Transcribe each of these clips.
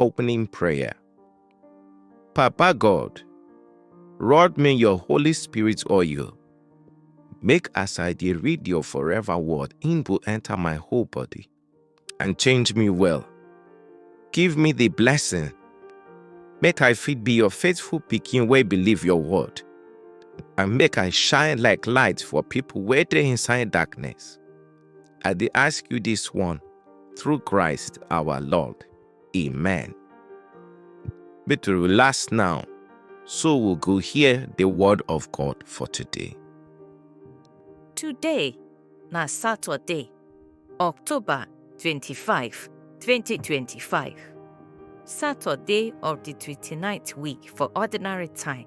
Opening Prayer Papa God, rod me your Holy Spirit oil. Make as I dey read your forever word, im go enter my whole body and change me well. Give me the blessing, make I fit be your faithful pikin wey believe your word, and make I shine like light for people wey dey inside darkness. I dey ask you this one through Christ our Lord. Amen. Make to relax now, so we go hear the word of God for today. Today na Saturday, October 25, 2025. Saturday of the 29th week for ordinary time.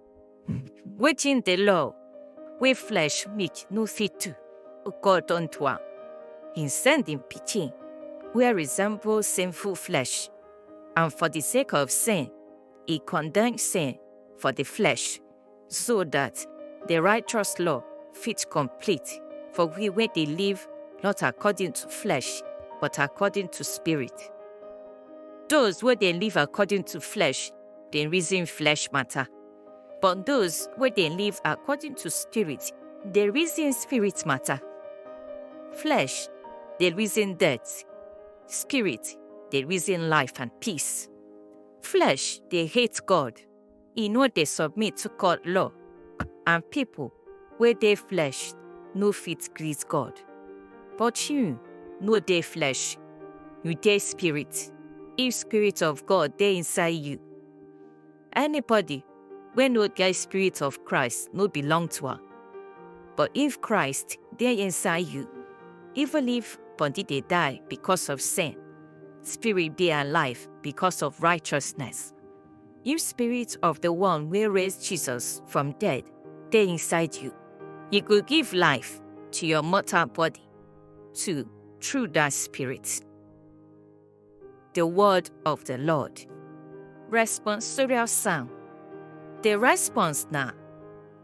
Wetin the law wey flesh meet no fit do, God don do am. He send him pikin wey resemble sinful flesh, and for the sake of sin, he condemn sin for the flesh, so that the righteous law fit complete for we wey dey live not according to flesh, but according to spirit. Those wey dey live according to flesh dem reason flesh matter. But those wey dey live according to spirit dey reason spirit matter. Flesh dey reason death, spirit dey reason life and peace. Flesh dey hate God, e no dey submit to God law. and pipo wey dey flesh no fit please God. But you no dey flesh, you dey Spirit, if Spirit of God dey inside you. Anybody wey no get Spirit of Christ no belong to am. But if Christ dey inside you, even if body dey die becos of sin, spirit dey alive becos of righteousness. If spirit of the one wey raise Jesus from dead dey inside you, e go give life to your mortal body too through that spirit. The word of the Lord. Responsorial psalm. The response na,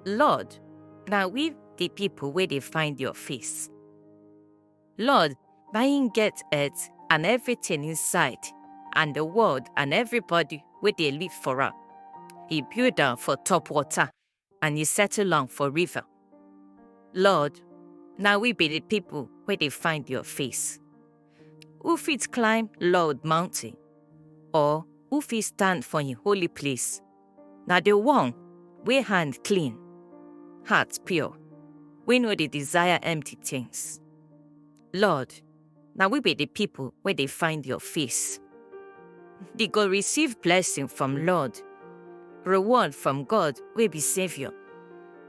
Lord, na we the people wey dey find your face. Lord, na him get earth and everything inside, and the world and everybody wey dey live for am. He build am for top water, and he settle am for river. Lord, na we be the people wey dey find your face. Who fit climb Lord mountain, or who fit stand for him holy place? Na the one wey hand clean, heart pure, wey no dey desire empty things. Lord, na we be the people wey dey find your face. They go receive blessing from Lord, reward from God wey be Savior.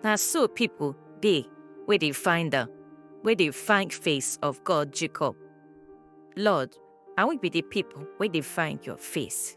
Na so people dey wey dey find am, wey dey find face of God Jacob. Lord, na we be the people wey dey find your face.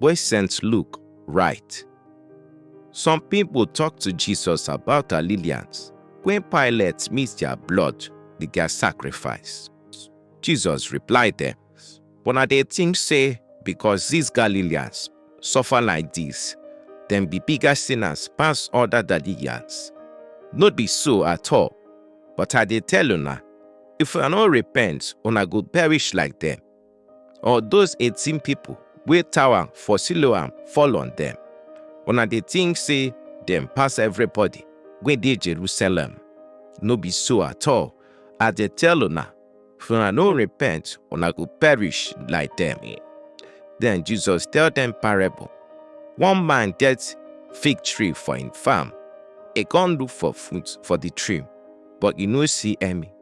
wey St. Luke write. Some people talk to Jesus about her lilians when Pilate mix their blood with their sacrifice. Jesus replied them, But I dey think say because these Galileans suffer like this, them be bigger sinners pass other Galileans. Not be so at all, but I dey tell una, if una no repent, una go perish like them. Or those eighteen people wey tower for Siloam fall on them? Una dey think say dem pass everybody wey dey Jerusalem? No be so at all. I dey tell una, if una no repent, una go perish like them. Then Jesus tell them parable. One man get fig tree for him farm. He come look for fruit for the tree, but he no see any.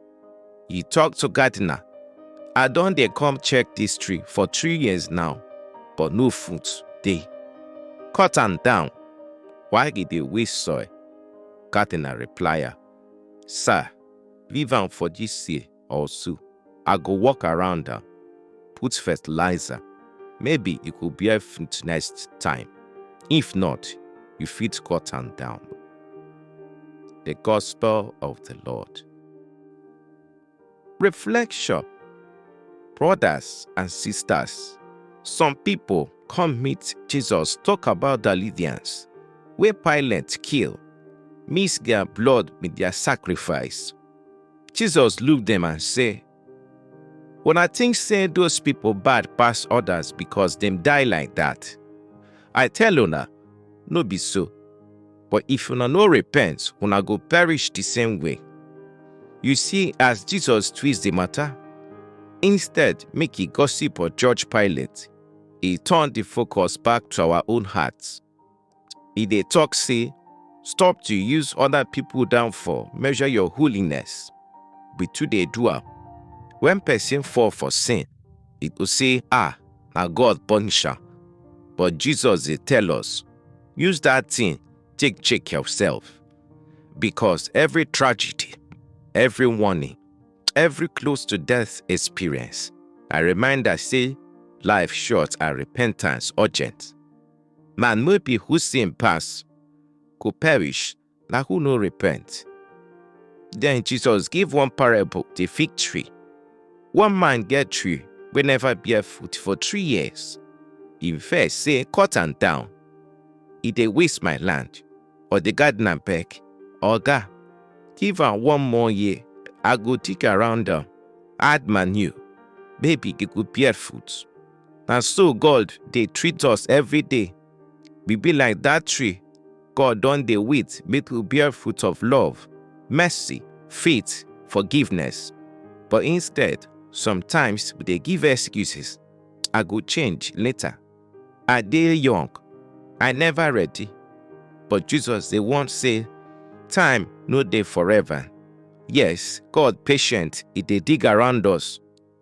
He talk to gardener, I don dey come check this tree for three years now, but no fruit dey. Cut am down, why e dey waste soil? Gardener reply am, Sir, leave am for this year or so. I go walk around am, put fertilizer, maybe e go bear fruit next time. If not, you fit cut am down. The Gospel of the Lord. Reflection Brothers and sisters, some pipo come meet Jesus tok about di Lydians wey Pilate kill, mix dia blood wit dia sacrifice. Jesus look dem and say, Una think say those people bad pass others because dem die like that? I tell una, no be so. But if una no repent, una go perish the same way. You see, as Jesus twist the matter, instead make he gossip or judge Pilate, he turn the focus back to our own hearts. e dey talk say stop to use other people downfall measure your holiness we too dey do am when person fall for sin e go say ah na god punish am but jesus dey tell us use that thing take check yourself because every tragedy every warning every close to death experience na reminder say life short and repentance urgent Man wey be who sin pass go perish, na who no repent. Then Jesus give one parable, the fig tree. One man get tree wey never bear fruit for three years. He vex say, cut am down. E dey waste my land. Or the gardener beg, Oga, give am one more year. I go dig around am, add manure, maybe e go bear fruit. Na so God dey treat us every day. We be like that tree God don dey wait make we bear fruit of love, mercy, faith, forgiveness. But instead, sometimes we dey give excuses. I go change later. I dey young. I never ready. But Jesus dey warn say time no dey forever. Yes, God patient, e dey dig around us.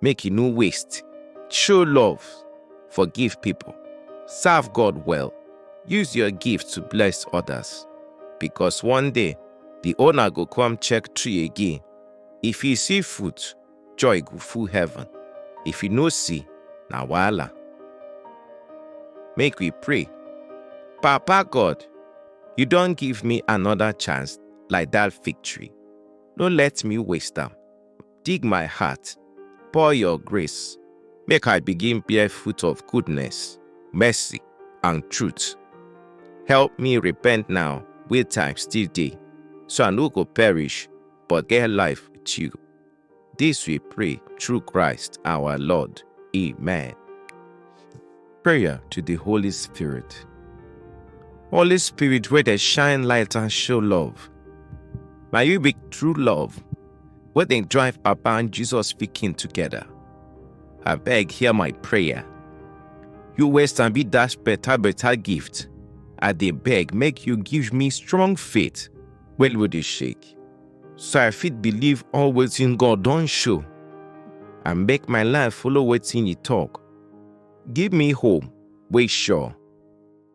make you no waste. Show love, forgive people, serve God well, use your gift to bless others. Because one day, the owner go come check tree again. If he see fruit, joy go full heaven. If he no see, na wahala. Make we pray. Papa God, you don give me another chance like that victory. No let me waste am. dig my heart, pour your grace, make I begin bear fruit of goodness, mercy, and truth. Help me repent now, where time still day, so I no go perish, but get life with you. This we pray through Christ our Lord. Amen. Prayer to the Holy Spirit. Holy Spirit, where they shine light and show love. May you be true love, where they drive Papa and Jesus speaking together. I beg, hear my prayer. You waste and be dash better, better gift. I they beg, make you give me strong faith. Well, would you shake? So I fit believe always in God, don't show. And make my life follow what's in you talk. Give me home wey sure,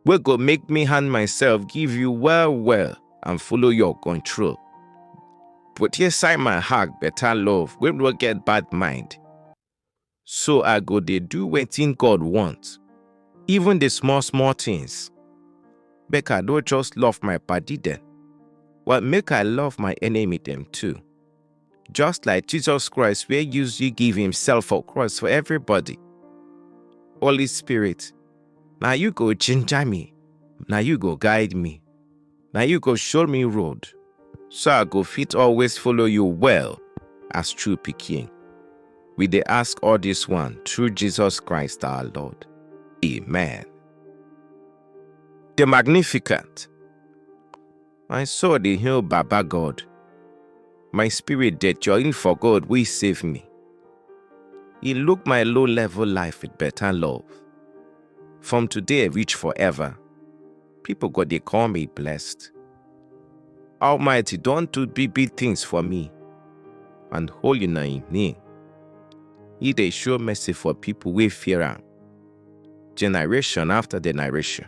wey go make me hand myself give you well well and follow your control. Put inside my heart better love wey no get bad mind. So I go dey do wetin God want, even the small small things. Make I no just love my padi dem, but make I love my enemy dem too. Just like Jesus Christ wey use you give himself for cross for everybody. Holy Spirit, na you go ginger me, na you go guide me, na you go show me road, so I go fit always follow you well as true pikin. We dey ask all this one through Jesus Christ our Lord. Amen. The Magnificent My soul dey hail Baba God. My spirit dey join for God wey save me. He look my low level life with better love. From today reach forever, people go dey call me blessed. Almighty don do big big things for me, and holy na him name. He dey show mercy for people wey fear am, generation after generation.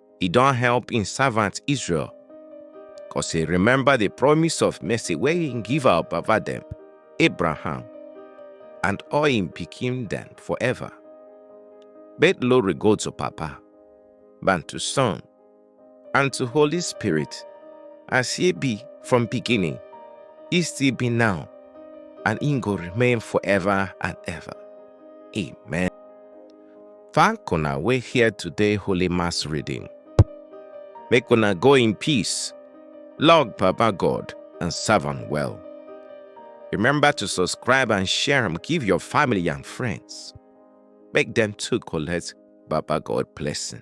he don help im servant Israel, cause he remember the promise of mercy wey he give our baba dem, Abraham, and all im pikin dem forever. Make glory go to Papa, and to Son, and to Holy Spirit, as he be from beginning, he still be now, and he go remain forever and ever. Amen. Thank una wey hear today Holy Mass reading. Make una go in peace, love Baba God and serve am well. Remember to subscribe and share am give your family and friends. Make dem too collect Baba God blessing.